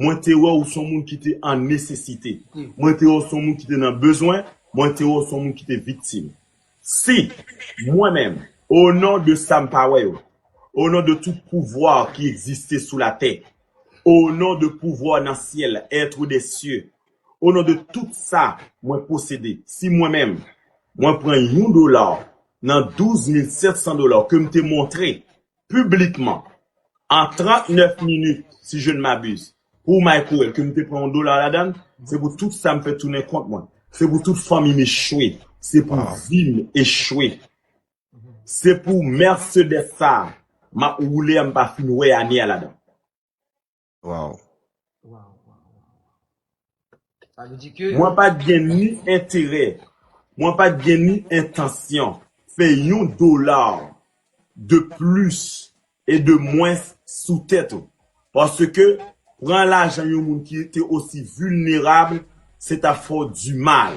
Mwen te wè ou son moun ki te an nesesite. Mwen te wè ou son moun ki te nan bezwen. Mwen te wè ou son moun ki te viktim. Si, mwen menm, o non de sa m pa wè yo, o non de tout pouvwa ki egziste sou latè, o non de pouvwa nan syèl, être des cieux, o non de tout sa mwen posede, si mwen menm, mwen pran yon dola nan douz mil sèt san dola ke m te montre piblikman an 39 minit si je ne m'abuse pou Microwell ke m te pran yon dola ladann se pou tout sa m fè tounen kont mwen se pou tout fanmi m echwe se pou vi m echwe se pou Mercedes sa a m ap woule a m pa fin wè ane a ladann. Waw. Mwen pat gen ni enterè, mwen pat gen ni entansyon fè yon dolar de plis e de mwens sou tèt ou. Paske pran lajan yon moun ki te osi vilnerab se tap fè w di mal.